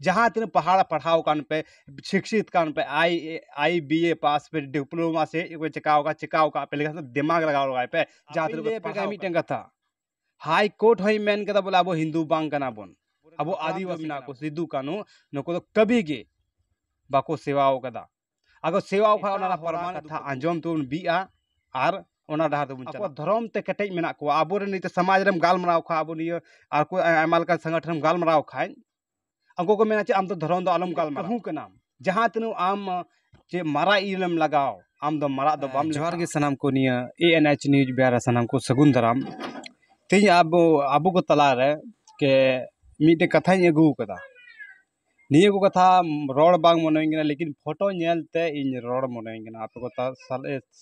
ᱡᱟᱦᱟᱸ ᱛᱤᱱᱟᱹᱜ ᱯᱟᱲᱦᱟᱣ ᱯᱟᱲᱦᱟᱣ ᱠᱟᱱ ᱯᱮ ᱥᱤᱠᱪᱷᱤᱛ ᱠᱟᱱ ᱯᱮ ᱟᱭ ᱮ ᱟᱭ ᱵᱤ ᱮ ᱯᱟᱥ ᱯᱮ ᱰᱤᱯᱞᱳᱢᱟ ᱥᱮ ᱪᱮᱫ ᱠᱚ ᱪᱮᱠᱟᱣ ᱠᱟᱜ ᱪᱮᱠᱟᱣ ᱠᱟᱜ ᱯᱮ ᱞᱮᱠᱷᱟᱱ ᱫᱤᱢᱟᱜᱽ ᱞᱟᱜᱟᱣ ᱞᱟᱜᱟᱭ ᱯᱮ ᱡᱟᱦᱟᱸ ᱛᱤᱱᱟᱹᱜ ᱯᱮ ᱯᱟᱲᱦᱟᱣ ᱢᱤᱫᱴᱮᱱ ᱠᱟᱛᱷᱟ ᱦᱟᱭ ᱠᱳᱨᱴ ᱦᱚᱸᱭ ᱢᱮᱱ ᱠᱮᱫᱟ ᱵᱚᱞᱮ ᱟᱵᱚ ᱦᱤᱱᱫᱩ ᱵᱟᱝ ᱠᱟᱱᱟ ᱵᱚᱱ ᱟᱵᱚ ᱟᱹᱫᱤᱵᱟᱹᱥᱤ ᱢᱮᱱᱟᱜ ᱠᱚ ᱥᱤᱫᱩ ᱠᱟᱹᱱᱩ ᱱᱩᱠᱩ ᱫᱚ ᱠᱟᱹᱵᱷᱤ ᱜᱮ ᱵᱟᱠᱚ ᱥᱮᱵᱟᱣ ᱠᱟᱫᱟ ᱟᱜᱚ ᱥᱮᱣᱟ ᱠᱷᱟᱱ ᱚᱱᱟ ᱯᱟᱨᱢᱟᱱ ᱠᱟᱛᱷᱟ ᱟᱸᱡᱚᱢ ᱛᱮᱵᱚᱱ ᱵᱤᱜᱼᱟ ᱟᱨ ᱚᱱᱟ ᱰᱟᱦᱟᱨ ᱛᱮᱵᱚᱱ ᱪᱟᱞᱟᱜᱼᱟ ᱫᱷᱚᱨᱚᱢ ᱛᱮ ᱠᱮᱴᱮᱡ ᱢᱮᱱᱟᱜ ᱠᱚᱣᱟ ᱟᱵᱚᱨᱮᱱ ᱱᱤᱛᱚᱜ ᱥᱚᱢᱟᱡᱽ ᱨᱮᱢ ᱜᱟᱞᱢᱟᱨᱟᱣ ᱠᱷᱟᱱ ᱟᱵᱚ ᱱᱤᱭᱟᱹ ᱟᱨ ᱠᱚ ᱟᱭᱢᱟ ᱞᱮᱠᱟᱱ ᱥᱚᱝᱜᱚᱴᱷᱚᱱᱮᱢ ᱜᱟᱞᱢᱟᱨᱟᱣ ᱠᱷᱟᱱ ᱩᱱᱠᱩ ᱠᱚ ᱢᱮᱱᱟ ᱪᱮ ᱟᱢ ᱫᱚ ᱫᱷᱚᱨᱚᱢ ᱫᱚ ᱟᱞᱚᱢ ᱜᱟᱞᱢᱟᱨᱟᱣᱟ ᱠᱟᱹᱦᱩ ᱠᱟᱱᱟᱢ ᱡᱟᱦᱟᱸ ᱛᱤᱱᱟᱹᱜ ᱟᱢ ᱪᱮ ᱢᱟᱨᱟᱜ ᱤᱞᱮᱢ ᱞᱟᱜᱟᱣ ᱟᱢ ᱫᱚ ᱢᱟᱨᱟᱜ ᱫᱚ ᱵᱟᱢ ᱡᱚᱦᱟᱨ ᱜᱮ ᱥᱟᱱᱟᱢ ᱠᱚ ᱱᱤᱭᱟᱹ ᱮ ᱮᱱ ᱮᱭᱤᱪ ᱱᱤᱭᱩᱡᱽ ᱵᱮᱣᱨᱟ ᱥᱟᱱᱟᱢ ᱠᱚ ᱥᱟᱹᱜᱩᱱ ᱫᱟᱨᱟᱢ ᱛᱮᱦᱮᱧ ᱟᱵᱚ ᱟᱵᱚ ᱠᱚ ᱛᱟᱞᱟ ᱨᱮ ᱠᱮ ᱢᱤᱫᱴᱮᱱ ᱠᱟᱛᱷᱟᱧ ᱟᱹᱜᱩ ᱟᱠᱟᱫᱟ ᱱᱤᱭᱟᱹ ᱠᱚ ᱠᱟᱛᱷᱟ ᱨᱚᱲ ᱵᱟᱝ ᱢᱚᱱᱮ ᱦᱩᱭᱟᱹᱧ ᱠᱟᱱᱟ ᱞᱮᱠᱤᱱ ᱯᱷᱳᱴᱳ ᱧᱮᱞ ᱛᱮ ᱤᱧ ᱨᱚᱲ ᱢᱚᱱᱮ ᱦᱩᱭᱟᱹᱧ ᱠᱟᱱᱟ ᱟᱯᱮ ᱠᱚ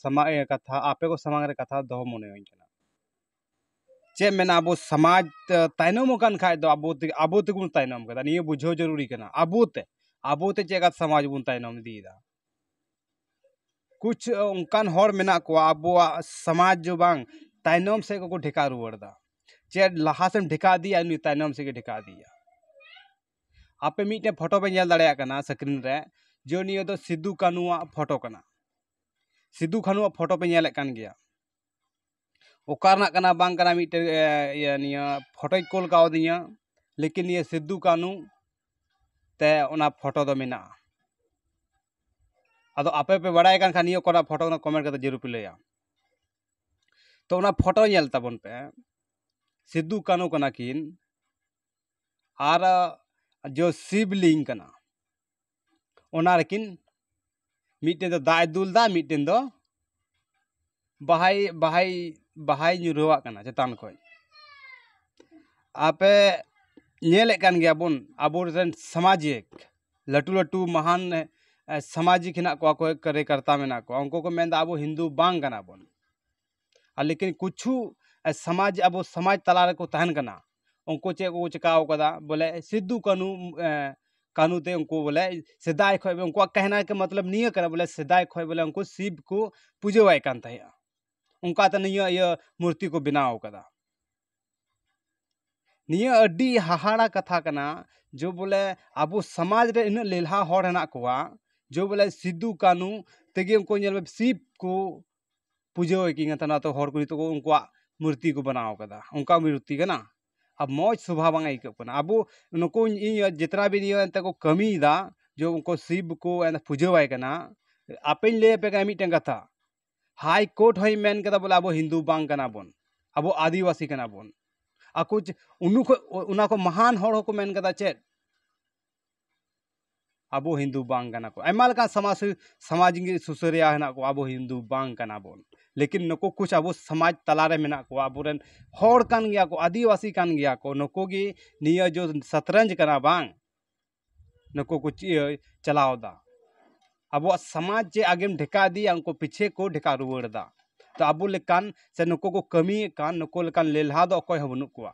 ᱥᱟᱢᱟᱝ ᱨᱮ ᱠᱟᱛᱷᱟ ᱟᱯᱮ ᱠᱚ ᱥᱟᱢᱟᱝ ᱨᱮ ᱠᱟᱛᱷᱟ ᱫᱚᱦᱚ ᱢᱚᱱᱮ ᱦᱩᱭᱟᱹᱧ ᱠᱟᱱᱟ ᱪᱮᱫ ᱢᱮᱱᱟ ᱟᱵᱚ ᱥᱚᱢᱟᱡᱽ ᱛᱟᱭᱱᱚᱢ ᱟᱠᱟᱱ ᱠᱷᱟᱡ ᱫᱚ ᱟᱵᱚ ᱛᱮᱜᱮ ᱟᱵᱚ ᱛᱮᱜᱮ ᱵᱚᱱ ᱛᱟᱭᱱᱚᱢ ᱠᱟᱱᱟ ᱱᱤᱭᱟᱹ ᱵᱩᱡᱷᱟᱹᱣ ᱡᱟᱹᱨᱩᱨᱤ ᱠᱟᱱᱟ ᱟᱵᱚ ᱛᱮ ᱟᱵᱚ ᱛᱮ ᱪᱮᱫ ᱞᱮᱠᱟ ᱥᱚᱢᱟᱡᱽ ᱵᱚᱱ ᱛᱟᱭᱱᱚᱢ ᱤᱫᱤᱭᱮᱫᱟ ᱠᱩᱪ ᱚᱱᱠᱟᱱ ᱦᱚᱲ ᱢᱮᱱᱟᱜ ᱠᱚᱣᱟ ᱟᱵᱚᱣᱟᱜ ᱥᱚᱢᱟᱡᱽ ᱜᱮ ᱵᱟᱝ ᱛᱟᱭᱱᱚᱢ ᱥᱮᱫ ᱜᱮᱠᱚ ᱴᱷᱮᱠᱟᱣ ᱨᱩᱣᱟᱹᱲ ᱮᱫᱟ ᱪᱮᱫ ᱞᱟᱦᱟ ᱥᱮᱫ ᱮᱢ ᱴᱷᱮᱠᱟᱣ ᱤᱫᱤᱭᱮᱭᱟ ᱩᱱᱤ ᱛᱟᱭᱱᱚᱢ ᱥᱮᱫ ᱜᱮ ᱴᱷᱮᱠᱟᱣ ᱤᱫᱤᱭᱮᱭᱟ ᱟᱯᱮ ᱢᱤᱫᱴᱮᱱ ᱯᱷᱳᱴᱳ ᱯᱮ ᱧᱮᱞ ᱫᱟᱲᱮᱭᱟᱜ ᱠᱟᱱᱟ ᱥᱠᱨᱤᱱ ᱨᱮ ᱡᱮ ᱱᱤᱭᱟᱹ ᱫᱚ ᱥᱤᱫᱩ ᱠᱟᱹᱱᱩᱣᱟᱜ ᱯᱷᱳᱴᱳ ᱠᱟᱱᱟ ᱥᱤᱫᱩ ᱠᱟᱹᱱᱩᱣᱟᱜ ᱯᱷᱳᱴᱳ ᱯᱮ ᱧᱮᱞᱮᱫ ᱠᱟᱱ ᱜᱮᱭᱟ ᱚᱠᱟ ᱨᱮᱱᱟᱜ ᱠᱟᱱᱟ ᱵᱟᱝ ᱠᱟᱱᱟ ᱢᱤᱫᱴᱮᱱ ᱤᱭᱟᱹ ᱱᱤᱭᱟᱹ ᱯᱷᱳᱴᱳᱭ ᱠᱳᱞ ᱠᱟᱣᱫᱤᱧᱟᱹ ᱞᱮᱠᱤᱱ ᱱᱤᱭᱟᱹ ᱥᱤᱫᱩ ᱠᱟᱹᱱᱩ ᱛᱮ ᱚᱱᱟ ᱯᱷᱳᱴᱳ ᱫᱚ ᱢᱮᱱᱟᱜᱼᱟ ᱟᱫᱚ ᱟᱯᱮ ᱯᱮ ᱵᱟᱲᱟᱭ ᱠᱟᱱ ᱠᱷᱟᱱ ᱱᱤᱭᱟᱹ ᱚᱠᱟᱴᱟᱜ ᱯᱷᱳᱴᱳ ᱠᱟᱱᱟ ᱠᱚᱢᱮᱱᱴ ᱠᱟᱛᱮ ᱡᱟᱹᱨᱩᱲ ᱯᱮ ᱞᱟᱹᱭᱟ ᱛᱚ ᱚᱱᱟ ᱯᱷᱳᱴᱳ ᱧᱮᱞ ᱛᱟᱵᱚᱱ ᱯᱮ ᱥᱤᱫᱩ ᱠᱟᱹᱱᱩ ᱠᱟᱱᱟ ᱠᱤᱱ ᱟᱨ ᱡᱚ ᱥᱤᱵᱽᱞᱤᱝ ᱠᱟᱱᱟ ᱚᱱᱟ ᱨᱮᱠᱤᱱ ᱢᱤᱫᱴᱮᱱ ᱫᱚ ᱫᱟᱜ ᱮ ᱫᱩᱞᱫᱟ ᱢᱤᱫᱴᱮᱱ ᱫᱚ ᱵᱟᱦᱟᱭ ᱵᱟᱦᱟᱭ ᱵᱟᱦᱟᱭ ᱧᱩᱨᱦᱩᱣᱟᱜ ᱠᱟᱱᱟ ᱪᱮᱛᱟᱱ ᱠᱷᱚᱱ ᱟᱯᱮ ᱧᱮᱞᱮᱫ ᱠᱟᱱ ᱜᱮᱭᱟ ᱵᱚᱱ ᱟᱵᱚ ᱨᱮᱱ ᱥᱟᱢᱟᱡᱤᱠ ᱞᱟᱹᱴᱩ ᱞᱟᱹᱴᱩ ᱢᱟᱦᱟᱱ ᱥᱟᱢᱟᱡᱤᱠ ᱦᱮᱱᱟᱜ ᱠᱚᱣᱟ ᱠᱚᱭᱮᱠ ᱠᱟᱨᱭᱚᱠᱚᱨᱛᱟ ᱢᱮᱱᱟᱜ ᱠᱚᱣᱟ ᱩᱱᱠᱩ ᱠᱚ ᱢᱮᱱᱫᱟ ᱟᱵᱚ ᱦᱤᱱᱫᱩ ᱵᱟᱝ ᱠᱟᱱᱟ ᱵᱚᱱ ᱟᱨ ᱞᱮᱠᱤᱱ ᱠᱤᱪᱷᱩ ᱥᱚᱢᱟᱡᱽ ᱟᱵᱚ ᱥᱚᱢᱟᱡᱽ ᱛᱟᱞᱟ ᱨᱮᱠᱚ ᱛᱟᱦᱮᱱ ᱠᱟᱱᱟ ᱩᱱᱠᱩ ᱪᱮᱫ ᱠᱚᱠᱚ ᱪᱤᱠᱟᱹᱣ ᱠᱟᱫᱟ ᱵᱚᱞᱮ ᱥᱤᱫᱩ ᱠᱟᱹᱱᱩ ᱠᱟᱹᱱᱩ ᱛᱮ ᱩᱱᱠᱩ ᱵᱚᱞᱮ ᱥᱮᱫᱟᱭ ᱠᱷᱚᱱ ᱜᱮ ᱩᱱᱠᱩᱣᱟᱜ ᱠᱟᱹᱦᱱᱤ ᱠᱮ ᱢᱚᱛᱞᱚᱵ ᱱᱤᱭᱟᱹ ᱠᱟᱱᱟ ᱵᱚᱞᱮ ᱥᱮᱫᱟᱭ ᱠᱷᱚᱱ ᱵᱚᱞᱮ ᱩᱱᱠᱩ ᱥᱤᱵᱽ ᱠᱚ ᱯᱩᱡᱟᱹᱣᱟᱭ ᱠᱟᱱ ᱛᱟᱦᱮᱸᱜᱼᱟ ᱚᱱᱠᱟ ᱛᱮ ᱱᱤᱭᱟᱹ ᱤᱭᱟᱹ ᱢᱩᱨᱛᱤ ᱠᱚ ᱵᱮᱱᱟᱣ ᱠᱟᱫᱟ ᱱᱤᱭᱟᱹ ᱟᱹᱰᱤ ᱦᱟᱦᱟᱲᱟ ᱠᱟᱛᱷᱟ ᱠᱟᱱᱟ ᱡᱮ ᱵᱚᱞᱮ ᱟᱵᱚ ᱥᱚᱢᱟᱡᱽ ᱨᱮ ᱩᱱᱟᱹᱜ ᱞᱮᱞᱦᱟ ᱦᱚᱲ ᱦᱮᱱᱟᱜ ᱠᱚᱣᱟ ᱡᱮ ᱵᱚᱞᱮ ᱥᱤᱫᱩ ᱠᱟᱹᱱᱩ ᱛᱮᱜᱮ ᱩᱱᱠᱩ ᱧᱮᱞ ᱢᱮ ᱥᱤᱵᱽ ᱠᱚ ᱯᱩᱡᱟᱹ ᱟᱭ ᱠᱟᱱ ᱛᱟᱦᱮᱱᱟ ᱛᱚ ᱦᱚᱲ ᱠᱚ ᱱᱤᱛᱚᱜ ᱠᱚ ᱩᱱᱠᱩᱣᱟᱜ ᱢᱩᱨᱛᱤ ᱠᱚ ᱵᱮᱱᱟᱣ ᱠᱟᱫᱟ ᱚᱱᱠᱟ ᱢᱩᱨᱛᱤ ᱠᱟᱱᱟ ᱟᱨ ᱢᱚᱡᱽ ᱥᱚᱵᱷᱟ ᱵᱟᱝ ᱟᱹᱭᱠᱟᱹᱜ ᱠᱟᱱᱟ ᱟᱵᱚ ᱱᱩᱠᱩ ᱤᱧ ᱡᱚᱛᱚᱱᱟᱜ ᱜᱮ ᱱᱤᱭᱟᱹ ᱮᱱᱛᱮᱜ ᱠᱚ ᱠᱟᱹᱢᱤᱭᱮᱫᱟ ᱡᱮ ᱩᱱᱠᱩ ᱥᱤᱵᱽ ᱠᱚ ᱯᱩᱡᱟᱹ ᱟᱭ ᱠᱟᱱᱟ ᱟᱯᱮᱧ ᱞᱟᱹᱭ ᱟᱯᱮ ᱠᱟᱱᱟ ᱢᱤᱫᱴᱮᱱ ᱠᱟᱛᱷᱟ ᱦᱟᱭ ᱠᱳᱨᱴ ᱦᱚᱸᱭ ᱢᱮᱱ ᱠᱟᱫᱟ ᱵᱚᱞᱮ ᱟᱵᱚ ᱦᱤᱱᱫᱩ ᱵᱟᱝ ᱠᱟᱱᱟ ᱵᱚᱱ ᱟᱵᱚ ᱟᱹᱫᱤᱵᱟᱹᱥᱤ ᱠᱟᱱᱟ ᱵᱚᱱ ᱟᱠᱚ ᱚᱱᱟ ᱠᱷᱚᱱ ᱢᱚᱦᱟᱱ ᱦᱚᱲ ᱦᱚᱸᱠᱚ ᱢᱮᱱ ᱠᱟᱫᱟ ᱪᱮᱫ ᱟᱵᱚ ᱦᱤᱱᱫᱩ ᱵᱟᱝ ᱠᱟᱱᱟ ᱠᱚ ᱟᱭᱢᱟ ᱞᱮᱠᱟᱱ ᱥᱟᱢᱟᱡᱽ ᱥᱟᱢᱟᱡᱽ ᱜᱮ ᱥᱩᱥᱟᱹᱨᱤᱭᱟᱹ ᱦᱮᱱᱟᱜ ᱠᱚᱣᱟ ᱟᱵᱚ ᱦᱤᱱᱫᱩ ᱵᱟᱝ ᱠᱟᱱᱟ ᱵᱚᱱ ᱞᱮᱠᱤᱱ ᱱᱩᱠᱩ ᱠᱩᱪ ᱟᱵᱚ ᱥᱟᱢᱟᱡᱽ ᱛᱟᱞᱟ ᱨᱮ ᱢᱮᱱᱟᱜ ᱠᱚᱣᱟ ᱟᱵᱚ ᱨᱮᱱ ᱦᱚᱲ ᱠᱟᱱ ᱜᱮᱭᱟ ᱠᱚ ᱟᱹᱫᱤᱵᱟᱹᱥᱤ ᱠᱟᱱ ᱜᱮᱭᱟ ᱠᱚ ᱱᱩᱠᱩ ᱜᱮ ᱱᱤᱭᱟᱹ ᱡᱮ ᱥᱟᱛᱨᱟᱧᱡᱽ ᱠᱟᱱᱟ ᱵᱟᱝ ᱱᱩᱠᱩ ᱠᱚ ᱤᱭᱟᱹ ᱪᱟᱞᱟᱣᱮᱫᱟ ᱟᱵᱚᱣᱟᱜ ᱥᱟᱢᱟᱡᱽ ᱡᱮ ᱟᱜᱮᱢ ᱰᱷᱮᱠᱟ ᱤᱫᱤᱭᱟ ᱩᱱᱠᱩ ᱯᱤᱪᱷᱮ ᱠᱚ ᱰᱷᱮᱠᱟ ᱨᱩᱣᱟᱹᱲᱮᱫᱟ ᱛᱚ ᱟᱵᱚ ᱞᱮᱠᱟᱱ ᱥᱮ ᱱᱩᱠᱩ ᱠᱚ ᱠᱟᱹᱢᱤᱭᱮᱫ ᱠᱟᱱ ᱱᱩᱠᱩ ᱞᱮᱠᱟᱱ ᱞᱮᱞᱦᱟ ᱫᱚ ᱚᱠᱚᱭ ᱦᱚᱸ ᱵᱟᱹᱱᱩᱜ ᱠᱚᱣᱟ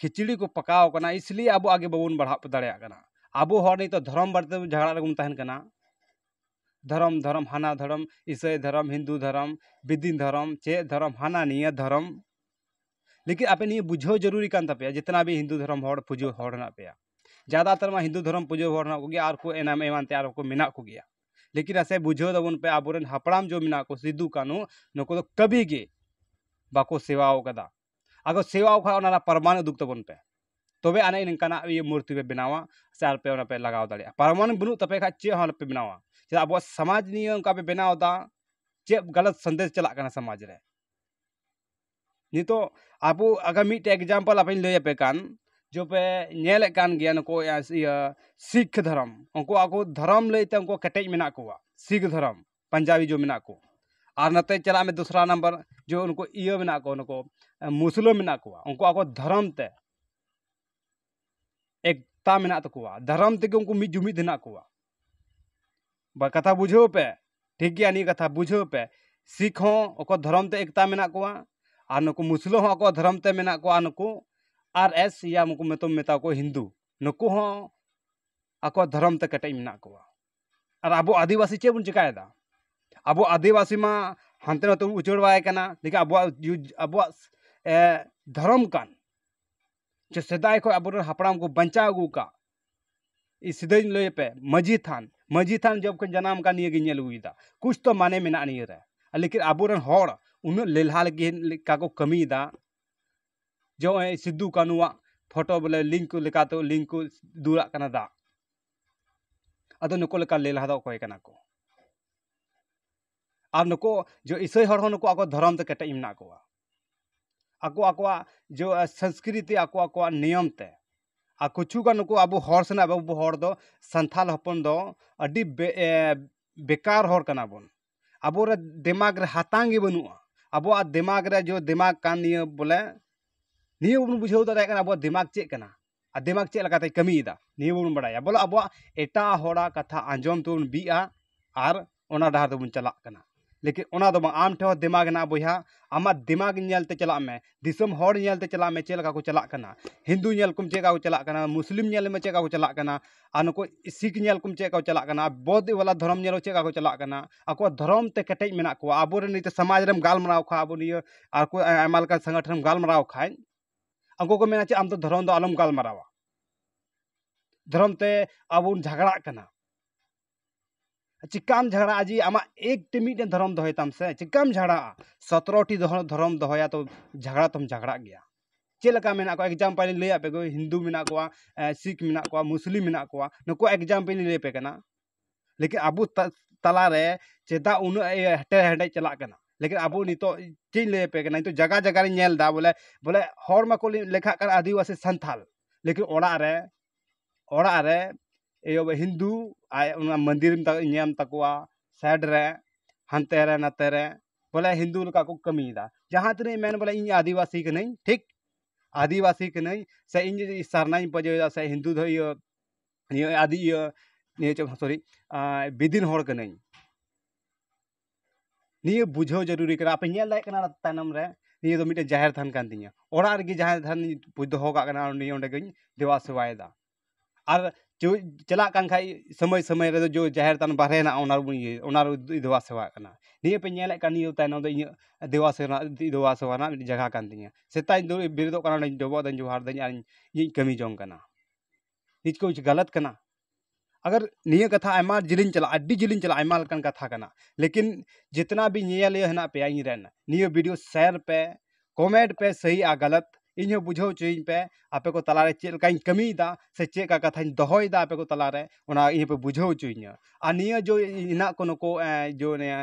ᱠᱷᱤᱪᱲᱤ ᱠᱚ ᱯᱟᱠᱟᱣ ᱠᱟᱱᱟ ᱤᱥᱞᱤᱭᱮ ᱟᱵᱚ ᱟᱜᱮ ᱵᱟᱵᱚᱱ ᱵᱟᱲᱦᱟᱣ ᱫᱟᱲᱮᱭᱟᱜ ᱠᱟᱱᱟ ᱟᱵᱚ ᱦᱚᱲ ᱱᱤᱛᱚᱜ ᱫᱷᱚᱨᱚᱢ ᱵᱟᱨᱮ ᱛᱮ ᱡᱷᱟᱜᱽᱲᱟ ᱨᱮᱵᱚᱱ ᱛᱟᱦᱮᱱ ᱠᱟᱱᱟ ᱫᱷᱚᱨᱚᱢ ᱫᱷᱚᱨᱚᱢ ᱦᱟᱱᱟ ᱫᱷᱚᱨᱚᱢ ᱤᱥᱟᱹᱭ ᱫᱷᱚᱨᱚᱢ ᱦᱤᱱᱫᱩ ᱫᱷᱚᱨᱚᱢ ᱵᱮᱫᱤᱱ ᱫᱷᱚᱨᱚᱢ ᱪᱮᱫ ᱫᱷᱚᱨᱚᱢ ᱦᱟᱱᱟ ᱱᱤᱭᱟᱹ ᱫᱷᱚᱨᱚᱢ ᱞᱮᱠᱤᱱ ᱟᱯᱮ ᱱᱤᱭᱟᱹ ᱵᱩᱡᱷᱟᱹᱣ ᱡᱟᱹᱨᱩᱨᱤ ᱠᱟᱱ ᱛᱟᱯᱮᱭᱟ ᱡᱮᱛᱱᱟ ᱜᱮ ᱦᱤᱱᱫᱩ ᱫᱷᱚᱨᱚᱢ ᱦᱚᱲ ᱯᱩᱡᱟᱹ ᱦᱚᱲ ᱦᱮᱱᱟᱜ ᱯᱮᱭᱟ ᱡᱟᱫᱟ ᱛᱟᱨ ᱢᱟ ᱦᱤᱱᱫᱩ ᱫᱷᱚᱨᱚᱢ ᱯᱩᱡᱟᱹ ᱦᱚᱲ ᱦᱮᱱᱟᱜ ᱠᱚᱜᱮᱭᱟ ᱟᱨ ᱠᱚ ᱮᱢᱟᱱ ᱮᱢᱟᱱ ᱛᱮᱭᱟᱜ ᱟᱨᱦᱚᱸ ᱠᱚ ᱢᱮᱱᱟᱜ ᱠᱚᱜᱮᱭᱟ ᱞᱮᱠᱤᱱ ᱟᱥᱮ ᱵᱩᱡᱷᱟᱹᱣ ᱛᱟᱵᱚᱱ ᱯᱮ ᱟᱵᱚ ᱨᱮᱱ ᱦᱟᱯᱲᱟᱢ ᱡᱮ ᱢᱮᱱᱟᱜ ᱠᱚ ᱥᱤᱫᱩ ᱠᱟᱹᱱᱦᱩ ᱱᱩᱠᱩ ᱫᱚ ᱠᱟᱹᱵᱷᱤ ᱜᱮ ᱵᱟᱠᱚ ᱥᱮᱵᱟᱣ ᱠᱟᱫᱟ ᱟᱫᱚ ᱥᱮᱣᱟ ᱠᱷᱟᱱ ᱚᱱᱟ ᱨᱮᱱᱟᱜ ᱯᱨᱚᱢᱟᱱ ᱩᱫᱩᱜᱽ ᱛᱟᱵᱚᱱ ᱯᱮ ᱛᱚᱵᱮ ᱟᱹᱱᱤᱡ ᱱᱤᱝᱠᱟᱱᱟᱜ ᱤᱭᱟᱹ ᱢᱩᱨᱛᱤ ᱯᱮ ᱵᱮᱱᱟᱣᱟ ᱥᱮ ᱟᱨ ᱯᱮ ᱚᱱᱟ ᱯᱮ ᱞᱟᱜᱟᱣ ᱫᱟᱲᱮᱭᱟᱜᱼᱟ ᱯᱨᱚᱢᱟᱱ ᱵᱟᱹᱱᱩᱜ ᱛᱟᱯᱮ ᱠᱷᱟᱱ ᱪᱮᱫ ᱦᱚᱸ ᱟᱞᱚ ᱯᱮ ᱵᱮᱱᱟᱣᱟ ᱪᱮᱫᱟᱜ ᱟᱵᱚᱣᱟᱜ ᱥᱚᱢᱟᱡᱽ ᱱᱤᱭᱟᱹ ᱚᱱᱠᱟ ᱯᱮ ᱵᱮᱱᱟᱣ ᱮᱫᱟ ᱪᱮᱫ ᱜᱟᱞᱚᱛ ᱥᱟᱸᱫᱮᱥ ᱪᱟᱞᱟᱜ ᱠᱟᱱᱟ ᱥᱚᱢᱟᱡᱽ ᱨᱮ ᱱᱤᱛᱚᱜ ᱟᱵᱚ ᱟᱜᱟᱨ ᱢᱤᱫᱴᱮᱡ ᱮᱠᱡᱟᱢᱯᱚᱞ ᱟᱯᱮᱧ ᱞᱟᱹᱭ ᱟᱯᱮ ᱠᱟᱱ ᱡᱮ ᱯᱮ ᱧᱮᱞᱮᱫ ᱠᱟᱱ ᱜᱮᱭᱟ ᱱᱩᱠᱩ ᱤᱭᱟᱹ ᱥᱤᱠᱷ ᱫᱷᱚᱨᱚᱢ ᱩᱱᱠᱩ ᱟᱠᱚ ᱫᱷᱚᱨᱚᱢ ᱞᱟᱹᱭᱛᱮ ᱩᱱᱠᱩ ᱠᱮᱴᱮᱡ ᱢᱮᱱᱟᱜ ᱠᱚᱣᱟ ᱥᱤᱠᱷ ᱫᱷᱚᱨᱚᱢ ᱯᱟᱧᱡᱟᱵᱤ ᱡᱚ ᱢᱮᱱᱟᱜ ᱠᱚ ᱟᱨ ᱱᱟᱛᱮ ᱪᱟᱞᱟᱜ ᱢᱮ ᱫᱚᱥᱨᱟ ᱱᱟᱢᱵᱟᱨ ᱡᱚ ᱩᱱᱠᱩ ᱤᱭᱟᱹ ᱢᱮᱱᱟᱜ ᱠᱚ ᱱᱩᱠᱩ ᱢᱩᱥᱞᱟᱹ ᱢᱮᱱᱟᱜ ᱠᱚᱣᱟ ᱩᱱᱠᱩ ᱟᱠᱚ ᱫᱷᱚᱨᱚᱢ ᱛᱮ ᱮᱠᱛᱟ ᱢᱮᱱᱟᱜ ᱛᱟᱠᱚᱣᱟ ᱫᱷᱚᱨᱚᱢ ᱛᱮᱜᱮ ᱩᱱᱠᱩ ᱢᱤᱫ ᱡᱩᱢᱤᱫ ᱦᱮᱱᱟᱜ ᱠᱚᱣᱟ ᱵᱟ ᱠᱟᱛᱷᱟ ᱵᱩᱡᱷᱟᱹᱣ ᱯᱮ ᱴᱷᱤᱠ ᱜᱮᱭᱟ ᱱᱤᱭᱟᱹ ᱠᱟᱛᱷᱟ ᱵᱩᱡᱷᱟᱹᱣ ᱯᱮ ᱥᱤᱠᱷ ᱦᱚᱸ ᱟᱠᱚ ᱫᱷᱚᱨᱚᱢ ᱛᱮ ᱮᱠᱛᱟ ᱢᱮᱱᱟᱜ ᱠᱚᱣᱟ ᱟᱨ ᱱᱩᱠᱩ ᱢᱩᱥᱞᱟᱹ ᱦᱚᱸ ᱟᱠᱚ ᱫᱷᱚᱨᱚᱢ ᱛᱮ ᱢᱮᱱᱟᱜ ᱠᱚᱣᱟ ᱱᱩᱠᱩ ᱟᱨ ᱮᱥ ᱭᱟ ᱩᱱᱠᱩ ᱢᱮᱛᱟᱣ ᱠᱚ ᱦᱤᱱᱫᱩ ᱱᱩᱠᱩ ᱦᱚᱸ ᱟᱠᱚ ᱫᱷᱚᱨᱚᱢ ᱛᱮ ᱠᱮᱴᱮᱡ ᱢᱮᱱᱟᱜ ᱠᱚᱣᱟ ᱟᱨ ᱟᱵᱚ ᱟᱹᱫᱤᱵᱟᱹᱥᱤ ᱪᱮᱫ ᱵᱚᱱ ᱪᱤᱠᱟᱹᱭᱮᱫᱟ ᱟᱵᱚ ᱟᱹᱫᱤᱵᱟᱹᱥᱤ ᱢᱟ ᱦᱟᱱᱛᱮ ᱱᱟᱛᱮ ᱵᱚᱱ ᱩᱪᱟᱹᱲ ᱵᱟᱲᱟᱭ ᱠᱟᱱᱟ ᱞᱮᱠᱤᱱ ᱟᱵᱚᱣᱟᱜ ᱟᱵᱚᱣᱟᱜ ᱫᱷᱚᱨᱚᱢ ᱠᱟᱱ ᱡᱮ ᱥᱮᱫᱟᱭ ᱠᱷᱚᱱ ᱟᱵᱚ ᱨᱮᱱ ᱦᱟᱯᱲᱟᱢ ᱠᱚ ᱵᱟᱧᱪᱟᱣ ᱟᱹᱜᱩ ᱟᱠᱟᱫ ᱥᱤᱫᱷᱟᱹᱧ ᱞᱟᱹᱭ ᱟᱯᱮ ᱢᱟᱹᱡᱷᱤ ᱛᱷᱟᱱ ᱢᱟᱹᱡᱷᱤ ᱛᱷᱟᱱ ᱡᱚᱵᱽ ᱠᱷᱚᱱ ᱡᱟᱱᱟᱢ ᱟᱠᱟᱱ ᱱᱤᱭᱟᱹ ᱜᱤᱧ ᱧᱮᱞ ᱟᱹᱜᱩᱭᱮᱫᱟ ᱠᱩᱪ ᱛᱚ ᱢᱟᱱᱮ ᱢᱮᱱᱟᱜᱼᱟ ᱱᱤᱭᱟᱹ ᱨᱮ ᱞᱮᱠᱤᱱ ᱟᱵᱚ ᱨᱮᱱ ᱦᱚᱲ ᱩᱱᱟᱹᱜ ᱞᱮᱞᱦᱟ ᱞᱟᱹᱜᱤᱫ ᱞᱮᱠᱟ ᱠᱚ ᱠᱟᱹᱢᱤᱭᱮᱫᱟ ᱡᱮ ᱱᱚᱜᱼᱚᱭ ᱥᱤᱫᱩ ᱠᱟᱹᱱᱩᱣᱟᱜ ᱯᱷᱳᱴᱳ ᱵᱚᱞᱮ ᱞᱤᱝᱠ ᱞᱮᱠᱟᱛᱮ ᱞᱤᱝᱠ ᱠᱚ ᱫᱩᱞᱟᱜ ᱠᱟᱱᱟ ᱫᱟᱜ ᱟᱫᱚ ᱱᱩᱠᱩ ᱞᱮᱠᱟ ᱞᱮᱞᱦᱟ ᱫᱚ ᱚᱠᱚᱭ ᱠᱟᱱᱟ ᱠᱚ ᱟᱨ ᱱᱩᱠᱩ ᱡᱮ ᱤᱥᱟᱹᱭ ᱦᱚᱲ ᱦᱚᱸ ᱱᱩᱠᱩ ᱟᱠᱚ ᱫᱷᱚᱨᱚᱢ ᱛᱮ ᱠᱮᱴᱮᱡ ᱢᱮᱱᱟᱜ ᱠᱚᱣᱟ ᱟᱠᱚ ᱟᱠᱚᱣᱟᱜ ᱡᱮ ᱥᱚᱝᱥᱠᱨᱤᱛᱤ ᱟᱠᱚ ᱟᱠᱚᱣᱟᱜ ᱱᱤᱭᱚᱢ ᱛᱮ ᱟᱨ ᱠᱤᱪᱷᱩ ᱜᱟᱱ ᱱᱩᱠᱩ ᱟᱵᱚ ᱦᱚᱲ ᱥᱟᱞᱟᱜ ᱟᱵᱚ ᱦᱚᱲ ᱫᱚ ᱥᱟᱱᱛᱟᱲ ᱦᱚᱯᱚᱱ ᱫᱚ ᱟᱹᱰᱤ ᱵᱮᱠᱟᱨ ᱦᱚᱲ ᱠᱟᱱᱟ ᱵᱚᱱ ᱟᱵᱚ ᱨᱮ ᱫᱮᱢᱟᱜᱽ ᱨᱮ ᱦᱟᱛᱟᱝ ᱜᱮ ᱵᱟᱹᱱᱩᱜᱼᱟ ᱟᱵᱚᱣᱟᱜ ᱫᱮᱢᱟᱜᱽ ᱨᱮ ᱡᱚ ᱫᱮᱢᱟᱜᱽ ᱠᱟᱱ ᱱᱤᱭᱟᱹ ᱵᱚᱞᱮ ᱱᱤᱭᱟᱹ ᱵᱟᱵᱚᱱ ᱵᱩᱡᱷᱟᱹᱣ ᱫᱟᱲᱮᱭᱟᱜ ᱠᱟᱱᱟ ᱟᱵᱚᱣᱟᱜ ᱫᱮᱢᱟᱜᱽ ᱪᱮᱫ ᱠᱟᱱᱟ ᱟᱨ ᱫᱮᱢᱟᱜᱽ ᱪᱮᱫ ᱞᱮᱠᱟᱛᱮ ᱠᱟᱹᱢᱤᱭᱮᱫᱟ ᱱᱤᱭᱟᱹ ᱵᱟᱵᱚᱱ ᱵᱟᱲᱟᱭᱟ ᱵᱚᱞᱮ ᱟᱵᱚᱣᱟᱜ ᱮᱴᱟᱜ ᱦᱚᱲᱟᱜ ᱠᱟᱛᱷᱟ ᱟᱸᱡᱚᱢ ᱛᱮᱵᱚᱱ ᱵᱤᱜᱼᱟ ᱟᱨ ᱚᱱᱟ ᱰᱟᱦᱟᱨ ᱛᱮᱵᱚᱱ ᱪᱟᱞᱟᱜ ᱠᱟᱱᱟ ᱞᱮᱠᱤᱱ ᱚᱱᱟ ᱫᱚ ᱵᱟᱝ ᱟᱢ ᱴᱷᱮᱱ ᱦᱚᱸ ᱫᱮᱢᱟᱜᱽ ᱢᱮᱱᱟᱜᱼᱟ ᱵᱚᱭᱦᱟ ᱟᱢᱟᱜ ᱫᱮᱢᱟᱜᱽ ᱧᱮᱞ ᱛᱮ ᱪᱟᱞᱟᱜ ᱢᱮ ᱫᱤᱥᱚᱢ ᱦᱚᱲ ᱧᱮᱞ ᱛᱮ ᱪᱟᱞᱟᱜ ᱢᱮ ᱪᱮᱫ ᱞᱮᱠᱟ ᱠᱚ ᱪᱟᱞᱟᱜ ᱠᱟᱱᱟ ᱦᱤᱱᱫᱩ ᱧᱮᱞ ᱠᱚᱢ ᱪᱮᱫ ᱞᱮᱠᱟ ᱠᱚ ᱪᱟᱞᱟᱜ ᱠᱟᱱᱟ ᱢᱩᱥᱞᱤᱢ ᱧᱮᱞ ᱢᱮ ᱪᱮᱫ ᱞᱮᱠᱟ ᱠᱚ ᱪᱟᱞᱟᱜ ᱠᱟᱱᱟ ᱟᱨ ᱱᱩᱠᱩ ᱥᱤᱠᱷ ᱧᱮᱞ ᱠᱚᱢ ᱪᱮᱫ ᱞᱮᱠᱟ ᱠᱚ ᱪᱟᱞᱟᱜ ᱠᱟᱱᱟ ᱵᱳᱫᱷ ᱵᱟᱞᱟ ᱫᱷᱚᱨᱚᱢ ᱧᱮᱞ ᱪᱮᱫ ᱞᱮᱠᱟ ᱠᱚ ᱪᱟᱞᱟᱜ ᱠᱟᱱᱟ ᱟᱠᱚᱣᱟᱜ ᱫᱷᱚᱨᱚᱢ ᱛᱮ ᱠᱮᱴᱮᱡ ᱢᱮᱱᱟᱜ ᱠᱚᱣᱟ ᱟᱵᱚ ᱨᱮᱱ ᱱᱤᱛᱚᱜ ᱥᱚᱢᱟᱡᱽ ᱨᱮᱢ ᱜᱟᱞᱢᱟᱨᱟᱣ ᱠᱷᱟᱱ ᱟᱵᱚ ᱱᱤᱭᱟᱹ ᱟᱠᱚ ᱟᱭᱢᱟ ᱞᱮᱠᱟᱱ ᱥᱚᱝᱜᱚᱴᱷᱚᱱ ᱮᱢ ᱜᱟᱞᱢᱟᱨᱟᱣ ᱠᱷᱟᱱ ᱟᱠᱚ ᱠᱚ ᱢᱮᱱᱟ ᱪᱮᱫ ᱟᱢ ᱫᱚ ᱫᱷᱚᱨᱚᱢ ᱫᱚ ᱟᱞᱚᱢ ᱜᱟᱞᱢᱟᱨᱟᱣᱟ ᱫᱷᱚᱨᱚᱢ ᱛᱮ ᱟᱵᱚ ᱵᱚᱱ ᱡᱷᱟᱜᱽᱲᱟᱜ ᱠᱟᱱᱟ ᱪᱤᱠᱟᱹᱢ ᱡᱷᱟᱜᱽᱲᱟᱜᱼᱟ ᱡᱮ ᱟᱢᱟᱜ ᱮᱠᱴᱤ ᱢᱤᱫᱴᱮᱱ ᱫᱷᱚᱨᱚᱢ ᱫᱚᱦᱚᱭ ᱛᱟᱢ ᱥᱮ ᱪᱤᱠᱟᱹᱢ ᱡᱷᱟᱜᱽᱲᱟᱜᱼᱟ ᱥᱚᱛᱨᱚᱴᱤ ᱫᱷᱚᱨᱚᱢ ᱫᱚᱦᱚᱭᱟ ᱛᱚ ᱡᱷᱟᱜᱽᱲᱟ ᱛᱚᱢ ᱡᱷᱟᱜᱽᱲᱟᱜ ᱜᱮᱭᱟ ᱪᱮᱫ ᱞᱮᱠᱟ ᱢᱮᱱᱟᱜ ᱠᱚᱣᱟ ᱮᱠᱡᱟᱢᱯᱮᱞ ᱤᱧ ᱞᱟᱹᱭᱟᱫ ᱯᱮᱜᱮ ᱦᱤᱱᱫᱩ ᱢᱮᱱᱟᱜ ᱠᱚᱣᱟ ᱥᱤᱠᱷ ᱢᱮᱱᱟᱜ ᱠᱚᱣᱟ ᱢᱩᱥᱞᱤᱢ ᱢᱮᱱᱟᱜ ᱠᱚᱣᱟ ᱱᱩᱠᱩᱣᱟᱜ ᱮᱠᱡᱟᱢᱯᱮᱞ ᱤᱧ ᱞᱟᱹᱭᱟᱯᱮ ᱠᱟᱱᱟ ᱞᱮᱠᱤᱱ ᱟᱵᱚ ᱛᱟᱞᱟ ᱨᱮ ᱪᱮᱫᱟᱜ ᱩᱱᱟᱹᱜ ᱦᱮᱴᱮᱨ ᱦᱮᱰᱮᱡ ᱪᱟᱞᱟᱜ ᱠᱟᱱᱟ ᱞᱮᱠᱤᱱ ᱟᱵᱚ ᱱᱤᱛᱚᱜ ᱪᱮᱫ ᱤᱧ ᱞᱟᱹᱭᱟᱯᱮ ᱠᱟᱱᱟ ᱱᱤᱛᱚᱜ ᱡᱟᱭᱜᱟ ᱡᱟᱭᱜᱟ ᱨᱤᱧ ᱧᱮᱞᱫᱟ ᱵᱚᱞᱮ ᱵᱚᱞᱮ ᱦᱚᱲ ᱢᱟᱠᱚ ᱞᱮᱠᱷᱟᱜ ᱠᱟᱱᱟ ᱟᱹᱫᱤᱵᱟᱹᱥᱤ ᱥᱟᱱᱛᱟᱲ ᱞᱮᱠᱤᱱ ᱚᱲᱟᱜ ᱨᱮ ᱚᱲᱟᱜ ᱨᱮ ᱮᱭᱳ ᱦᱤᱱᱫᱩ ᱟᱨ ᱚᱱᱟ ᱢᱚᱱᱫᱤᱨ ᱢᱮᱱᱟᱜ ᱛᱟᱠᱚᱣᱟ ᱥᱟᱭᱤᱰ ᱨᱮ ᱦᱟᱱᱛᱮ ᱨᱮ ᱱᱟᱛᱮ ᱨᱮ ᱵᱚᱞᱮ ᱦᱤᱱᱫᱩ ᱞᱮᱠᱟ ᱠᱚ ᱠᱟᱹᱢᱤᱭᱮᱫᱟ ᱡᱟᱦᱟᱸ ᱛᱤᱱᱟᱹᱜ ᱤᱧ ᱢᱮᱱ ᱵᱚᱞᱮ ᱤᱧ ᱟᱹᱫᱤᱵᱟᱹᱥᱤ ᱠᱟᱹᱱᱟᱹᱧ ᱴᱷᱤᱠ ᱟᱹᱫᱤᱵᱟᱹᱥᱤ ᱠᱟᱹᱱᱟᱹᱧ ᱥᱮ ᱤᱧ ᱡᱩᱫᱤ ᱥᱟᱨᱱᱟᱧ ᱯᱟᱸᱡᱟᱭᱟ ᱥᱮ ᱦᱤᱱᱫᱩ ᱫᱚ ᱤᱭᱟᱹ ᱱᱤᱭᱟᱹ ᱟᱹᱰᱤ ᱤᱭᱟᱹ ᱱᱤᱭᱟᱹ ᱪᱮᱫ ᱥᱚᱨᱤ ᱵᱤᱫᱤᱱ ᱦᱚᱲ ᱠᱟᱹᱱᱟᱹᱧ ᱱᱤᱭᱟᱹ ᱵᱩᱡᱷᱟᱹᱣ ᱡᱟᱹᱨᱩᱨᱤ ᱠᱟᱱᱟ ᱟᱯᱮ ᱧᱮᱞ ᱫᱟᱲᱮᱭᱟᱜ ᱠᱟᱱᱟ ᱛᱟᱭᱱᱚᱢ ᱨᱮ ᱱᱤᱭᱟᱹ ᱫᱚ ᱢᱤᱫᱴᱮᱱ ᱡᱟᱦᱮᱨ ᱛᱷᱟᱱ ᱠᱟᱱ ᱛᱤᱧᱟᱹ ᱚᱲᱟᱜ ᱨᱮᱜᱮ ᱡᱟᱦᱮᱨ ᱛᱷᱟᱱ ᱯᱩᱡᱟᱹ ᱫᱚᱦᱚ ᱠᱟᱜ ᱠᱟᱱᱟ ᱩᱱᱤ ᱚᱸᱰᱮ ᱜᱮᱧ ᱫᱮᱵᱟ ᱥᱮᱵᱟᱭᱮᱫᱟ ᱟᱨ ᱪᱟᱞᱟᱜ ᱠᱟᱱ ᱠᱷᱟᱡ ᱥᱚᱢᱚᱭ ᱥᱚᱢᱚᱭ ᱨᱮᱫᱚ ᱡᱚ ᱡᱟᱦᱮᱨ ᱛᱷᱟᱱ ᱵᱟᱦᱨᱮ ᱦᱮᱱᱟᱜᱼᱟ ᱚᱱᱟ ᱨᱮᱵᱚᱱ ᱤᱭᱟᱹᱭ ᱚᱱᱟ ᱨᱮᱵᱚᱱ ᱫᱮᱵᱟ ᱥᱮᱵᱟᱣᱟᱜ ᱠᱟᱱᱟ ᱱᱤᱭᱟᱹ ᱯᱮ ᱧᱮᱞᱮᱫ ᱠᱟᱱ ᱱᱤᱭᱟᱹ ᱛᱟᱭᱱᱚᱢ ᱫᱚ ᱤᱧᱟᱹᱜ ᱫᱮᱵᱟ ᱥᱮᱵᱟ ᱫᱮᱵᱟ ᱥᱮᱵᱟ ᱨᱮᱱᱟᱜ ᱢᱤᱫᱴᱮᱱ ᱡᱟᱭᱜᱟ ᱠᱟᱱ ᱛᱤᱧᱟᱹ ᱥᱮᱛᱟᱜ ᱤᱧ ᱵᱮᱨᱮᱫᱚᱜ ᱠᱟᱱᱟ ᱚᱸᱰᱮᱧ ᱰᱚᱵᱚᱜ ᱫᱟᱹᱧ ᱡᱚᱦᱟᱨ ᱫᱟᱹᱧ ᱟᱨᱤᱧ ᱤᱧᱤᱧ ᱠᱟᱹᱢᱤ ᱡᱚᱝ ᱠᱟᱱᱟ ᱱᱤᱛ ᱠᱩᱪ ᱜᱟᱞᱟᱛ ᱠᱟᱱᱟ ᱟᱜᱟᱨ ᱱᱤᱭᱟᱹ ᱠᱟᱛᱷᱟ ᱟᱭᱢᱟ ᱡᱤᱞᱤᱧ ᱪᱟᱞᱟᱜᱼᱟ ᱟᱹᱰᱤ ᱡᱤᱞᱤᱧ ᱪᱟᱞᱟᱜᱼᱟ ᱟᱭᱢᱟ ᱞᱮᱠᱟᱱ ᱠᱟᱛᱷᱟ ᱠᱟᱱᱟ ᱞᱮᱠᱤᱱ ᱡᱤᱛᱱᱟ ᱵᱤ ᱧᱮᱧᱮᱞᱤᱭᱟᱹ ᱦᱮᱱᱟᱜ ᱯᱮᱭᱟ ᱤᱧ ᱨᱮᱱ ᱱᱤᱭᱟᱹ ᱵᱷᱤᱰᱤᱭᱳ ᱥᱮᱭᱟᱨ ᱯᱮ ᱠᱚᱢᱮᱱᱴ ᱯᱮ ᱥᱟᱹᱦᱤ ᱟᱨ ᱜᱟᱞᱟᱛ ᱤᱧ ᱦᱚᱸ ᱵᱩᱡᱷᱟᱹᱣ ᱦᱚᱪᱚᱭᱤᱧ ᱯᱮ ᱟᱯᱮ ᱠᱚ ᱛᱟᱞᱟ ᱨᱮ ᱪᱮᱫ ᱞᱮᱠᱟᱧ ᱠᱟᱹᱢᱤᱭᱮᱫᱟ ᱥᱮ ᱪᱮᱫ ᱞᱮᱠᱟ ᱠᱟᱛᱷᱟᱧ ᱫᱚᱦᱚᱭᱮᱫᱟ ᱟᱯᱮ ᱠᱚ ᱛᱟᱞᱟ ᱨᱮ ᱚᱱᱟ ᱤᱧ ᱦᱚᱸᱯᱮ ᱵᱩᱡᱷᱟᱹᱣ ᱦᱚᱪᱚᱭᱤᱧᱟᱹ ᱟᱨ ᱱᱤᱭᱟᱹ ᱡᱮ ᱦᱮᱱᱟᱜ ᱠᱚ ᱱᱩᱠᱩ ᱡᱮ ᱱᱤᱭᱟᱹ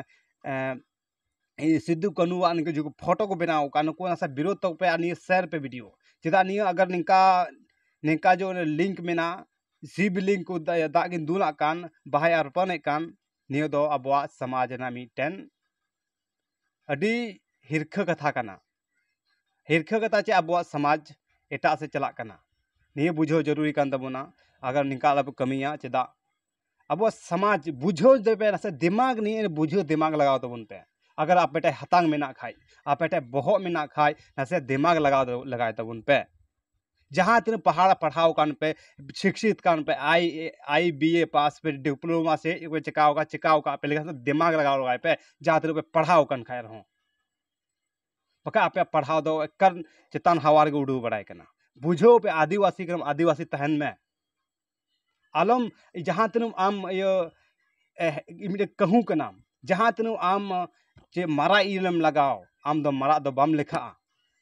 ᱥᱤᱫᱩ ᱠᱟᱹᱱᱩ ᱟᱜ ᱱᱤᱝᱠᱟᱹ ᱡᱩᱫᱤ ᱯᱷᱳᱴᱳ ᱠᱚ ᱵᱮᱱᱟᱣ ᱠᱟᱜᱼᱟ ᱱᱩᱠᱩ ᱱᱟᱥᱮ ᱵᱤᱨᱳᱫ ᱛᱟᱠᱚ ᱯᱮ ᱟᱨ ᱱᱤᱭᱟᱹ ᱥᱮᱭᱟᱨ ᱯᱮ ᱵᱷᱤᱰᱤᱭᱳ ᱪᱮᱫᱟᱜ ᱱᱤᱭᱟᱹ ᱟᱜᱟᱨ ᱱᱤᱝᱠᱟ ᱱᱤᱝᱠᱟ ᱡᱮ ᱚᱱᱮ ᱞᱤᱝᱠ ᱢᱮᱱᱟᱜᱼᱟ ᱥᱤᱵᱽ ᱞᱤᱝᱠ ᱠᱚ ᱫᱟᱜ ᱠᱤᱱ ᱫᱩᱞᱟᱜ ᱠᱟᱱ ᱵᱟᱦᱟᱭ ᱟᱨᱯᱟᱱᱮᱜ ᱠᱟᱱ ᱱᱤᱭᱟᱹ ᱫᱚ ᱟᱵᱚᱣᱟᱜ ᱥᱚᱢᱟᱡᱽ ᱨᱮᱱᱟᱜ ᱢᱤᱫᱴᱮᱱ ᱟᱹᱰᱤ ᱦᱤᱨᱠᱷᱟᱹ ᱠᱟᱛᱷᱟ ᱠᱟᱱᱟ ᱦᱤᱨᱠᱷᱟᱹ ᱠᱟᱛᱷᱟ ᱪᱮ ᱟᱵᱚᱣᱟᱜ ᱥᱚᱢᱟᱡᱽ ᱮᱴᱟᱜ ᱥᱮᱡ ᱪᱟᱞᱟᱜ ᱠᱟᱱᱟ ᱱᱤᱭᱟᱹ ᱵᱩᱡᱷᱟᱹᱣ ᱡᱟᱹᱨᱩᱨᱤ ᱠᱟᱱ ᱛᱟᱵᱚᱱᱟ ᱟᱜᱟᱨ ᱱᱤᱝᱠᱟ ᱟᱞᱚ ᱯᱮ ᱠᱟᱹᱢᱤᱭᱟ ᱪᱮᱫᱟᱜ ᱟᱵᱚ ᱥᱚᱢᱟᱡᱽ ᱵᱩᱡᱷᱟᱹᱣ ᱫᱮᱵᱮ ᱱᱟᱥᱮ ᱫᱮᱢᱟᱜᱽ ᱱᱤᱭᱮ ᱵᱩᱡᱷᱟᱹᱣ ᱫᱮᱢᱟᱜᱽ ᱞᱟᱜᱟᱣ ᱛᱟᱵᱚᱱ ᱯᱮ ᱟᱜᱟᱨ ᱟᱯᱮ ᱴᱷᱮᱱ ᱦᱟᱛᱟᱝ ᱢᱮᱱᱟᱜ ᱠᱷᱟᱱ ᱟᱯᱮ ᱴᱷᱮᱱ ᱵᱚᱦᱚᱜ ᱢᱮᱱᱟᱜ ᱠᱷᱟᱱ ᱱᱟᱥᱮ ᱫᱮᱢᱟᱜᱽ ᱞᱟᱜᱟᱣ ᱞᱟᱜᱟᱭ ᱛᱟᱵᱚᱱ ᱯᱮ ᱡᱟᱦᱟᱸ ᱛᱤᱱᱟᱹᱜ ᱯᱟᱲᱦᱟᱣ ᱯᱟᱲᱦᱟᱣ ᱠᱟᱱ ᱯᱮ ᱥᱤᱠᱠᱷᱤᱛ ᱠᱟᱱ ᱯᱮ ᱟᱭ ᱮ ᱟᱭ ᱵᱤ ᱮ ᱯᱟᱥ ᱯᱮ ᱰᱤᱯᱞᱳᱢᱟ ᱥᱮ ᱪᱮᱫ ᱯᱮ ᱪᱤᱠᱟᱹᱣ ᱠᱟᱜ ᱪᱤᱠᱟᱹᱣ ᱠᱟᱜ ᱯᱮ ᱞᱮᱠᱷᱟᱱ ᱫᱮᱢᱟᱜᱽ ᱞᱟᱜᱟᱣ ᱞᱟᱜᱟᱭ ᱯᱮ ᱡᱟᱦᱟᱸ ᱛᱤᱱᱟᱹᱜ ᱯᱮ ᱯᱟᱲᱦᱟᱣ ᱠᱟᱱ ᱠᱷᱟᱱ ᱨᱮᱦᱚᱸ ᱵᱟᱠᱷᱟᱱ ᱟᱯᱮᱭᱟᱜ ᱯᱟᱲᱦᱟᱣ ᱫᱚ ᱮᱠᱟᱞ ᱪᱮᱛᱟᱱ ᱦᱟᱣᱟ ᱨᱮᱜᱮ ᱩᱰᱟᱹᱣ ᱵᱟᱲᱟᱭ ᱠᱟᱱᱟ ᱵᱩᱡᱷᱟᱹᱣ ᱯᱮ ᱟᱹᱫᱤᱵᱟᱹᱥᱤ ᱠᱟᱱᱟᱢ ᱟᱹᱫᱤᱵᱟᱹᱥᱤ ᱛᱟᱦᱮᱱ ᱢᱮ ᱟᱞᱚᱢ ᱡᱟᱦᱟᱸ ᱛᱤᱱᱟᱹᱜ ᱟᱢ ᱤᱭᱟᱹ ᱢᱤᱫᱴᱮᱱ ᱠᱟᱹᱦᱩ ᱠᱟᱱᱟᱢ ᱡᱟᱦᱟᱸ ᱛᱤᱱᱟᱹᱜ ᱟᱢ ᱪᱮᱫ ᱢᱟᱨᱟᱜ ᱤᱞ ᱮᱢ ᱞᱟᱜᱟᱣ ᱟᱢ ᱫᱚ ᱢᱟᱨᱟᱜ ᱫᱚ ᱵᱟᱢ ᱞᱮᱠᱷᱟᱜᱼᱟ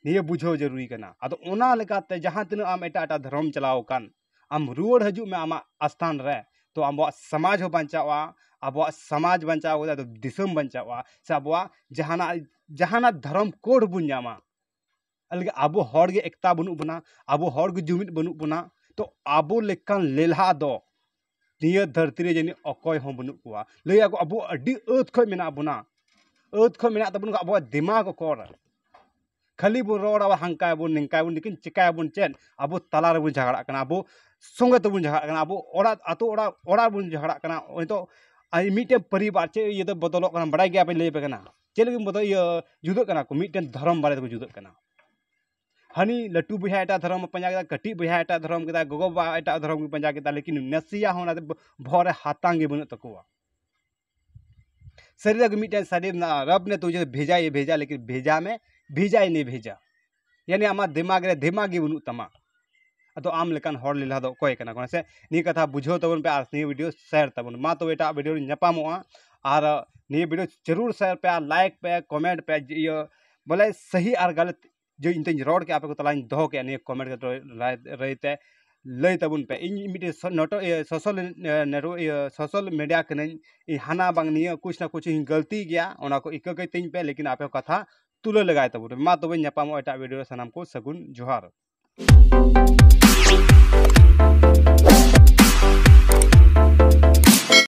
ᱱᱤᱭᱟᱹ ᱵᱩᱡᱷᱟᱹᱣ ᱡᱟᱹᱨᱩᱨᱤ ᱠᱟᱱᱟ ᱟᱫᱚ ᱚᱱᱟ ᱞᱮᱠᱟᱛᱮ ᱡᱟᱦᱟᱸ ᱛᱤᱱᱟᱹᱜ ᱟᱢ ᱮᱴᱟᱜ ᱮᱴᱟᱜ ᱫᱷᱚᱨᱚᱢ ᱪᱟᱞᱟᱣ ᱟᱠᱟᱱ ᱟᱢ ᱨᱩᱣᱟᱹᱲ ᱦᱤᱡᱩᱜ ᱢᱮ ᱟᱢᱟᱜ ᱟᱥᱛᱷᱟᱱ ᱨᱮ ᱛᱚ ᱟᱵᱚᱣᱟᱜ ᱥᱚᱢᱟᱡᱽ ᱦᱚᱸ ᱵᱟᱧᱪᱟᱜᱼᱟ ᱟᱵᱚᱣᱟᱜ ᱥᱚᱢᱟᱡᱽ ᱵᱟᱧᱪᱟᱣ ᱠᱟᱛᱮ ᱟᱫᱚ ᱫᱤᱥᱚᱢ ᱵᱟᱧᱪᱟᱜᱼᱟ ᱥᱮ ᱟᱵᱚᱣᱟᱜ ᱡᱟᱦᱟᱱᱟᱜ ᱡᱟᱦᱟᱱᱟᱜ ᱫᱷᱚᱨᱚᱢ ᱠᱳᱰ ᱵᱚᱱ ᱧᱟᱢᱟ ᱟᱞᱜᱟ ᱟᱵᱚ ᱦᱚᱲ ᱜᱮ ᱮᱠᱛᱟ ᱵᱟᱹᱱᱩᱜ ᱵᱚᱱᱟ ᱟᱵᱚ ᱦᱚᱲ ᱜᱮ ᱡᱩᱢᱤᱫ ᱵᱟᱹᱱᱩᱜ ᱵᱚᱱᱟ ᱛᱚ ᱟᱵᱚ ᱞᱮᱠᱟᱱ ᱞᱮᱞᱦᱟ ᱫᱚ ᱱᱤᱭᱟᱹ ᱫᱷᱟᱹᱨᱛᱤ ᱨᱮ ᱡᱟᱹᱱᱤᱡ ᱚᱠᱚᱭ ᱦᱚᱸ ᱵᱟᱹᱱᱩᱜ ᱠᱚᱣᱟ ᱞᱟᱹᱭ ᱟᱠᱚ ᱟᱵᱚ ᱟᱹᱰᱤ ᱟᱹᱛ ᱠᱷᱚᱱ ᱢᱮᱱᱟᱜ ᱵᱚᱱᱟ ᱟᱹᱛ ᱠᱷᱚᱱ ᱢᱮᱱᱟᱜ ᱛᱟᱵᱚᱱ ᱠᱷᱟᱱ ᱟᱵᱚᱣᱟᱜ ᱫᱤᱢᱟᱜᱽ ᱚᱠᱚᱨ ᱠᱷᱟᱹᱞᱤ ᱵᱚᱱ ᱨᱚᱲᱟ ᱦᱟᱱᱠᱟᱭ ᱟᱵᱚᱱ ᱱᱤᱝᱠᱟᱭ ᱟᱵᱚᱱ ᱞᱮᱠᱤᱱ ᱪᱤᱠᱟᱹᱭ ᱟᱵᱚᱱ ᱪᱮᱫ ᱟᱵᱚ ᱛᱟᱞᱟ ᱨᱮᱵᱚᱱ ᱡᱷᱟᱜᱽᱲᱟᱜ ᱠᱟᱱᱟ ᱟᱵᱚ ᱥᱚᱸᱜᱮ ᱛᱮᱵᱚᱱ ᱡᱷᱟᱜᱽᱲᱟᱜ ᱠᱟᱱᱟ ᱟᱵᱚ ᱚᱲᱟᱜ ᱟᱛᱳ ᱚᱲᱟᱜ ᱚᱲᱟᱜ ᱵᱚᱱ ᱡᱷᱟᱜᱽᱲᱟᱜ ᱠᱟᱱᱟ ᱱᱤᱛᱚᱜ ᱟᱨ ᱢᱤᱫᱴᱮᱱ ᱯᱚᱨᱤᱵᱟᱨ ᱪᱮᱫ ᱤᱭᱟᱹᱛᱮ ᱵᱚᱫᱚᱞᱚᱜ ᱠᱟᱱᱟ ᱵᱟᱲᱟᱭ ᱜᱮᱭᱟ ᱵᱮᱱ ᱞᱟᱹᱭ ᱟᱯᱮ ᱠᱟᱱᱟ ᱪᱮᱫ ᱞᱟᱹᱜᱤᱫ ᱵᱚᱫᱚᱞ ᱤᱭᱟᱹ ᱡᱩᱫᱟᱹᱜ ᱠᱟᱱᱟ ᱠᱚ ᱢᱤᱫᱴᱮᱱ ᱫᱷᱚᱨᱚᱢ ᱵᱟᱨᱮ ᱛᱮᱠᱚ ᱡᱩᱫᱟᱹᱜ ᱠᱟᱱᱟ ᱦᱟᱹᱱᱤ ᱞᱟᱹᱴᱩ ᱵᱚᱭᱦᱟ ᱮᱴᱟᱜ ᱫᱷᱚᱨᱚᱢ ᱮ ᱯᱟᱸᱡᱟ ᱠᱮᱫᱟ ᱠᱟᱹᱴᱤᱡ ᱵᱚᱭᱦᱟ ᱮᱴᱟᱜ ᱫᱷᱚᱨᱚᱢ ᱠᱮᱫᱟᱭ ᱜᱚᱜᱚ ᱵᱟᱵᱟ ᱮᱴᱟᱜ ᱫᱷᱚᱨᱚᱢ ᱠᱤᱱ ᱯᱟᱸᱡᱟ ᱠᱮᱫᱟ ᱞᱮᱠᱤᱱ ᱱᱟᱥᱮᱭᱟᱜ ᱦᱚᱸ ᱚᱱᱟᱛᱮ ᱵᱚᱦᱚᱜ ᱨᱮ ᱦᱟᱛᱟᱝ ᱜᱮ ᱵᱟᱹᱱᱩᱜ ᱛᱟᱠᱚᱣᱟ ᱥᱟᱹᱨᱤ ᱜᱮ ᱢᱤᱫᱴᱮᱱ ᱥᱟᱹᱨᱤ ᱢᱮᱱᱟᱜᱼᱟ ᱨᱚᱵᱽ ᱱᱮ ᱛᱩᱡᱷᱮ ᱵᱷᱮᱡᱟ ᱦᱮ ᱵᱷᱮᱡᱟ ᱞᱮᱠᱤᱱ ᱵᱷᱮᱡᱟ ᱢᱮ ᱵᱷᱮᱡᱟ ᱦᱤ ᱱᱮᱦᱤ ᱵᱷᱮᱡᱟ ᱡᱟᱹᱱᱤ ᱟᱢᱟᱜ ᱫᱤᱢᱟᱜᱽ ᱨᱮ ᱫᱤᱢᱟᱜᱽ ᱜᱮ ᱵᱟᱹᱱᱩᱜ ᱛᱟᱢᱟ ᱟᱫᱚ ᱟᱢ ᱞᱮᱠᱟᱱ ᱦᱚᱲ ᱞᱮᱞᱦᱟ ᱫᱚ ᱚᱠᱚᱭ ᱠᱟᱱᱟ ᱠᱚ ᱦᱮᱸ ᱥᱮ ᱱᱤᱭᱟᱹ ᱠᱟᱛᱷᱟ ᱵᱩᱡᱷᱟᱹᱣ ᱛᱟᱵᱚᱱ ᱯᱮ ᱟᱨ ᱱᱤᱭᱟᱹ ᱵᱷᱤᱰᱤᱭᱳ ᱥᱮᱭᱟᱨ ᱛᱟᱵᱚᱱ ᱢᱟ ᱛᱚᱵᱮ ᱮᱴᱟᱜ ᱵᱷᱤᱰᱤᱭᱳ ᱨᱮ ᱧᱟᱯᱟᱢᱚᱜᱼᱟ ᱟᱨ ᱱᱤᱭᱟᱹ ᱵᱷᱤᱰᱤᱭᱳ ᱡᱟᱹᱨᱩᱲ ᱥᱮᱭᱟᱨ ᱯᱮ ᱟᱨ ᱞᱟᱭᱤᱠ ᱯᱮ ᱠᱚᱢᱮᱱᱴ ᱯᱮ ᱤᱭᱟᱹ ᱵᱚᱞᱮ ᱥᱟᱹᱦᱤ ᱟᱨ ᱜᱟᱞᱚᱛ ᱡᱮ ᱤᱧ ᱛᱮᱧ ᱨᱚᱲ ᱠᱮᱜᱼᱟ ᱟᱯᱮ ᱠᱚ ᱛᱟᱞᱟᱧ ᱫᱚᱦᱚ ᱠᱮᱜᱼᱟ ᱱᱤᱭᱟᱹ ᱠᱚᱢᱮᱱᱴ ᱠᱟᱛᱮ ᱨᱟᱭ ᱨᱟᱹᱭ ᱛᱮ ᱞᱟᱹᱭ ᱛᱟᱵᱚᱱ ᱯᱮ ᱤᱧ ᱢᱤᱫᱴᱮᱱ ᱱᱚᱴᱚ ᱤᱭᱟᱹ ᱥᱳᱥᱟᱞ ᱱᱮᱴᱣᱟᱨᱠ ᱤᱭᱟᱹ ᱥᱳᱥᱟᱞ ᱢᱤᱰᱤᱭᱟ ᱠᱟᱹᱱᱟᱹᱧ ᱤᱧ ᱦᱟᱱᱟ ᱵᱟᱝ ᱱᱤᱭᱟᱹ ᱠᱩᱪ ᱱᱟ ᱠᱩᱪ ᱤᱧ ᱜᱟᱹᱞᱛᱤ ᱜᱮᱭᱟ ᱚᱱᱟ ᱠᱚ ᱤᱠᱟᱹ ᱠᱟᱹᱛᱤᱧ ᱯᱮ ᱞᱮᱠᱤᱱ ᱟᱯᱮ ᱠᱟᱛᱷᱟ ᱛᱩᱞᱟᱹ ᱞᱮᱜᱟᱭ ᱛᱟᱵᱚᱱ ᱯᱮ ᱢᱟ ᱛᱚᱵᱮ ᱧᱟᱯᱟᱢᱚᱜᱼᱟ ᱮᱴᱟᱜ ᱵᱷᱤᱰᱤᱭᱳ ᱨᱮ ᱥᱟᱱᱟᱢ ᱠᱚ ᱥᱟᱹᱜᱩᱱ ᱡᱚᱦᱟᱨ